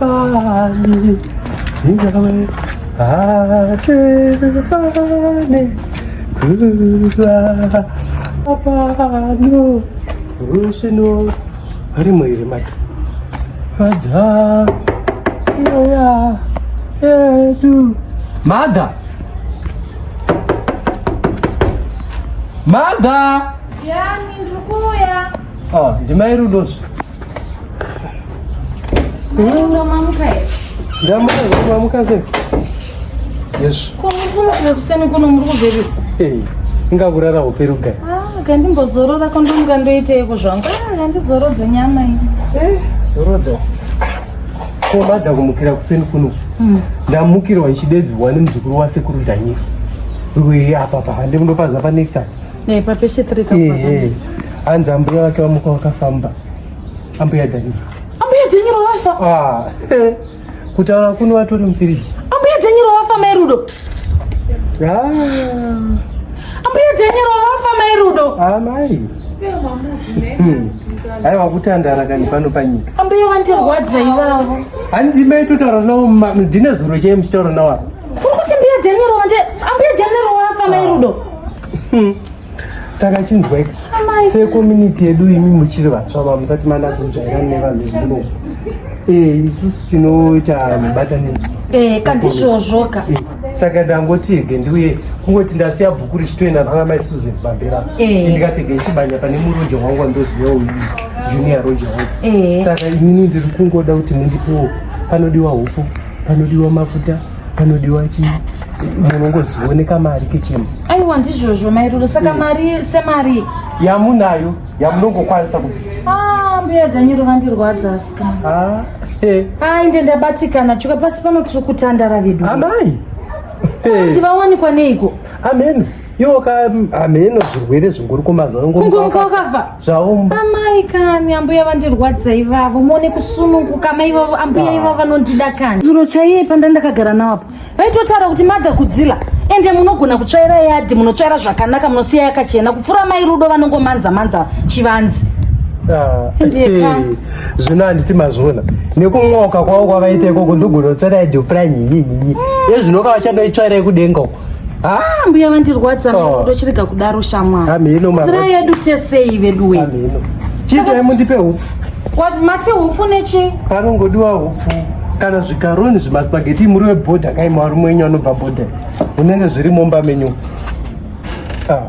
Shabani, Yahweh, Adivani, Kula, Abanu, Rusino, harimo iri mati, Fadza, Yoya, Edu, Mada. Mother! Yani, ndukuya. Oh, ndimai Rudosu. Rudo mamuka here? Ndamuka, mamuka sei? Yes. Ko muri kumukira kuseni kuno muri kubveri? Eh, inga kurara hope rugai. Ah, kandimbozorora ko ndomuka ndoiteiko zvangu? Ah, kandizorodze nyama iyi. Eh, zorodza. Ko mada kumukira kuseni kuno. Mm. Ndamukirwa ichidedzwa nemuzukuru wasekuru Daniel. Wewe apa pa hande mundopaza pa next time. Ne pa peshe 3 ka. Eh eh. Hanzi ambuya wake wamuka wakafamba. Ambuya Daniel. Ambuya Daniel wafa. Ah. Eh. Kutaura kuno watori mfiriji. Ambuya Daniel wafa mai Rudo. Ah. Ambuya Daniel wafa mai Rudo. Ah mai. Hmm. aiwa kutandara kani pano panyika ambuya vandirwadza ivavo handi mai totaura navo ndine zuro chai muchitaura navo apa kuti mbuya daniel wande ambuya daniel wafa mai ah. rudo hmm. saka chinzwaika sekomuniti yedu imi muchiri vatsva vamusati manatsojairani nevanhu vekuno eh, isusu tinoita mubatanidzwa eh, kandizvozvoka eh. saka ndangotege ndiuye kungoti ndasiya bhuku richitoenda nana mai susan pamberi apo Eh. ndikatege chibanya pane muroja wangu wandoziva uyu junior roja wangu Eh. saka inini ndiri kungoda kuti mundipewo panodiwa hupfu panodiwa mafuta panodiwa chii munongozioneka mari kechema aiwa ndizvozvo mairoro saka mari semari yamunayo yamunongokwanisa kubvisa Ah, mbuya dhanyero vandirwadza asi Ah, eh. Ai ndendabatikana chuka pasi pano tiri kutandara vedu. Amai. Hey. Tivawanikwa neiko? Amen. Iwo ka ameno zvirwere zvingori kumazuva ngo. Kungo mukakafa. Zvawo. Amai kani ambuya vandirwadza ivavo muone kusununguka mai ivavo ambuya ah. ivavo vanondida kani. Zuro chaiye panda ndakagara nawo apa. vaitotaura kuti mother kudzila ende munogona kutsvaira yadhi munotsvaira zvakanaka munosiya yakachena kupfuura mai rudo vanongomanza manza chivanzi ah, eh, zvino handiti mazviona nekumwoka kwavo kwavaita ikoko ndogonotsvaira yadhi yopfuura nyinyinyinyi ezvinoka vachandoitsvaira yekudenga uko ah, mbuya vandirwadza oh. ndochirega kudaro shamwari zira yedu tesei veduwe chiitai mundipe upfu What mati hupfu nechi? Panongodiwa hupfu kana zvikaroni zvimaspageti muri webhodha kai marume wenyu anobva bhodha unenge zviri mumba menyu ah,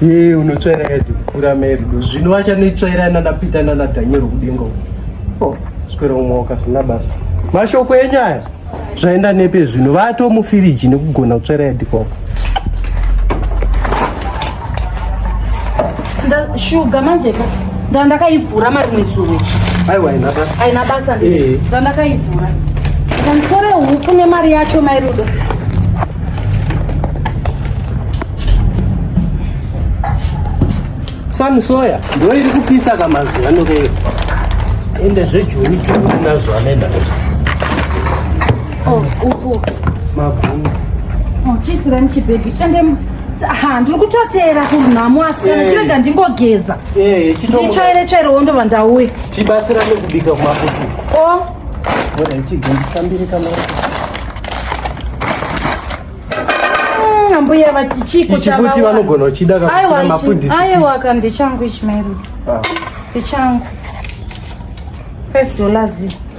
ye unotsvaira yadi kupfuura merido zvino vachanoitsvaira nanapita nanadhanyero kudenga oh, swera umwe wakazvina basa mashoko enyu aya zvaenda nepe zvino vato mufiriji nekugona kutsvera yadikoko shuga manjeka ndandakaivhura marimwe zuve aiwa aina basa aina basa eh. ndandakaivhura ndanditore hupfu nemari yacho mairudo Sun soya ndiyo iri kupisa ka mazuva ano keyo. Ende zvejuni juni nazvo anoenda. Oh, upo. Magumu. Oh, chisi rani chibaby. Chende ha ndiri kutoteera kunhamo asi kana chirega eh. ndingogeza eh, ndichaire chaire wondo vandauya tibatsirane kubika kumafuti o oh. Mm, ambuya vati chiko Ichi chava futi wa- vanogona uchida Aiwa, kakusina ichi- mafundisi aiwa ka ndechangu ichi mairo Ah. ndechangu 5 dollars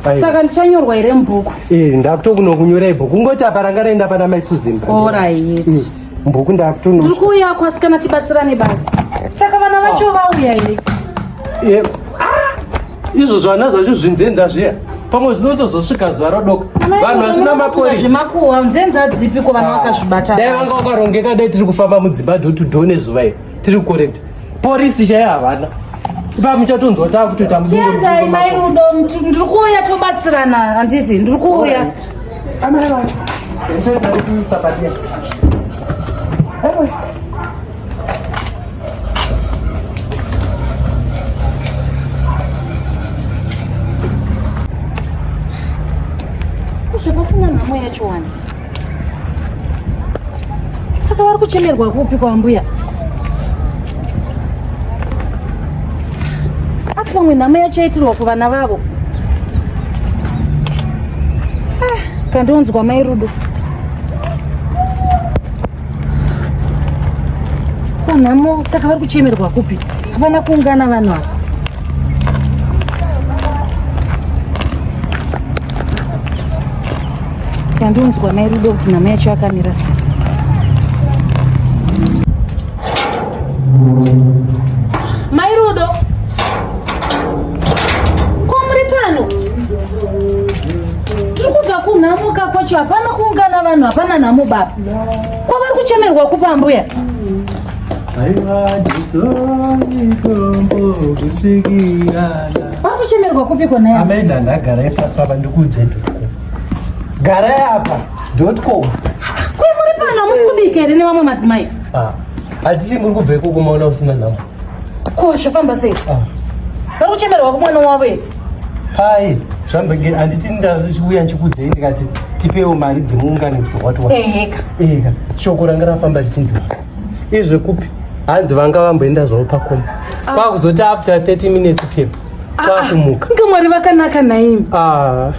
Aiwa. saka ndichanyorwa here mubhuku Eh, ndakutokunokunyora ibhuku kungoti apa ranga raenda pana mai susan orit Mm, mbuku tiri ndakutono kuuya kwasikana tibatsirane basa saka vana vacho vauya here Eh, izvo zvana zvacho zvinzenza zviya pamwe zvinotozosvika zuva rodoka vanhu vasina maporisazvimakuhwa nzenza dzipi ko vanhu ah. vakazvibata dai vanga vakarongeka dai tiri kufamba mudzimba do to do nezuva iri tiri correct porisi chaiyo havana ipa muchatonzwa taa kutoita muendai mai rudo ndiri kuuya tobatsirana handiti ndiri kuuya amai vacho zvepasina nhamo yacho wani saka vari kuchemerwa kupi kwambuya asi pamwe nhamo yacho yaitirwa kuvana vavo ah, kandonzwa mai rudo Ko nhamo saka vari kuchemerwa kupi? Hapana kuungana vanhu ava. Kandonzwa mai Rudo kuti nhamo yacho yakamira sei. Mai Rudo. Ko muri pano? Tiri kubva kunhamuka kwacho hapana kuungana vanhu hapana nhamo baba. kwavari kuchemerwa kupa ambuya vari kuchemerwa kupi kona ya amai ndandagara ipasi apa ndikuudze ndotko gara yapa ndotko kuri muri pano hamusi kubika here nevamwe madzimai ah, hatisi muri kubveko kumaona usina nhamo Ko zvofamba sei? Ah. Vari kuchemerwa kumwana wavo here? Hai, zvambenge handiti ndauya ndikudzei ndikati tipewo mari dzemuunganidzwa wati wa. Eheka. Eheka. Shoko ranga rafamba richinzi mari. Izve kupi? Hanzi vanga vamboenda zvavo pakoma. Ah. Kwakuzoti after 30 minutes pepa. Ah, Kwakumuka. Inga mwari vakanaka naimi. Ah.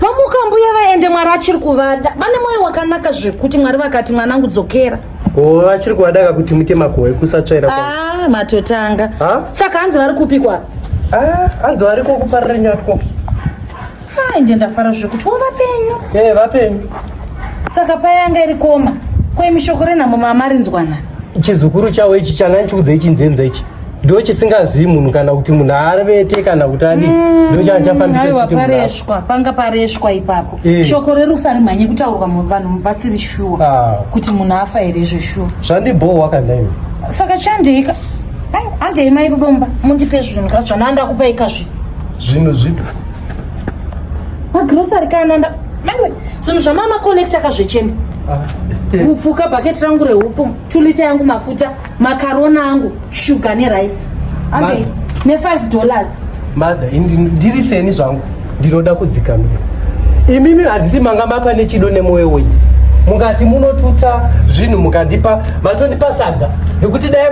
Vamuka mbuya vaende mwari achiri kuvada. Vane moyo wakanaka zvekuti mwari vakati mwanangu dzokera. Oh, vachiri kuadaka kuti muite makohwe kusatsvaira ah, matotanga ha? saka hanzi vari kupi kwa ah, hanzi vari kokuparira nyatwo inde ndafara zvekuti wo vapenyu e eh, hey, vapenyu saka payanga iri koma kweimishoko renhamo maamarinzwana chizukuru chawo ichi changa ndichiudza ichinzenza ichi ndo chisingazivi munhu kana kuti munhu arevete kana kuti adi mm, ndo changa chafambisapareshwa panga pareshwa ipapo eh. shoko rerufu ari mhanye kutaurwa vanhu vasiri shuwa ah. kuti munhu afa here izvo shuwa zvandibhohwa kandaiwe saka chandeika handei mai rudomba mundipe zvinhu ka zvana andakupai ka zvinhu zvinhu zvipi magrosari kana nda maiwe zvinhu zvamama collecta ka zvechemba ah. upfuka bhaketi rangu rehupo tulita yangu mafuta makarona angu shuga nerice okay. ne5 dollars mother ndiri seni zvangu ndinoda kudzikamira imimi handiti manga mapa nechido nemwoyo wenyu mukati munotuta zvinhu mukandipa matondipa saga nekuti dai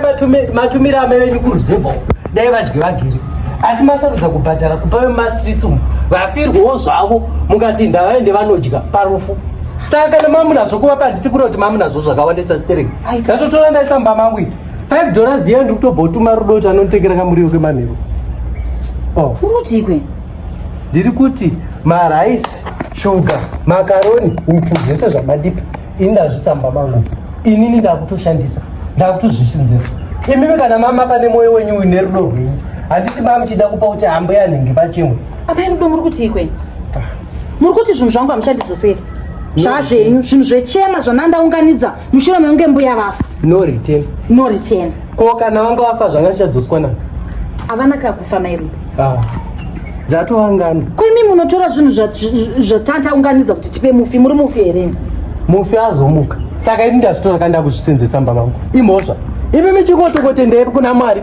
matumira amai venyu kuruzevha dai vadye vagere asi masarudza kubhadhara kupa vemumastreets umu vafirwawo zvavo mukati ndavaende vanodya parufu saka kana mamunazvo kuvapa handiti kuri kuti mamunazvo zvakawandisa stereki ndatotora ndaisa mumba mangu ii five dollars yee ndiri kutobva utuma rudo kuti anonditengera kamuriwo kemanheru oh. uri kutii kweni ndiri kuti maraisi shuga makaroni upfu zvese zvamandipa ini ndazvisa mumba mangu inini ndakutoshandisa ndakutozvishinzesa imimi kana mama pane mwoyo wenyu uine rudo rwenyu handiti mama muchida kupa kuti hambo yanhingi pachimwe amai rudo muri kuti ikwe ah. muri kuti zvinhu zvangu hamuchandidzoseri zvazvenyu zvinhu zvechema zvanandaunganidza mushure mekunge mbuya vafa no return no return ko kana vanga vafa zvanga zvichadzoswa na havana kakufa mairudo ah. dzatoangana ko imi munotora zvinhu zvatanta unganidza kuti tipe mufi muri mufi here mufi azomuka saka ini ndazvitora kandakuzvisenzesa mba vangu imhosva imi michikotokotendei kuna mwari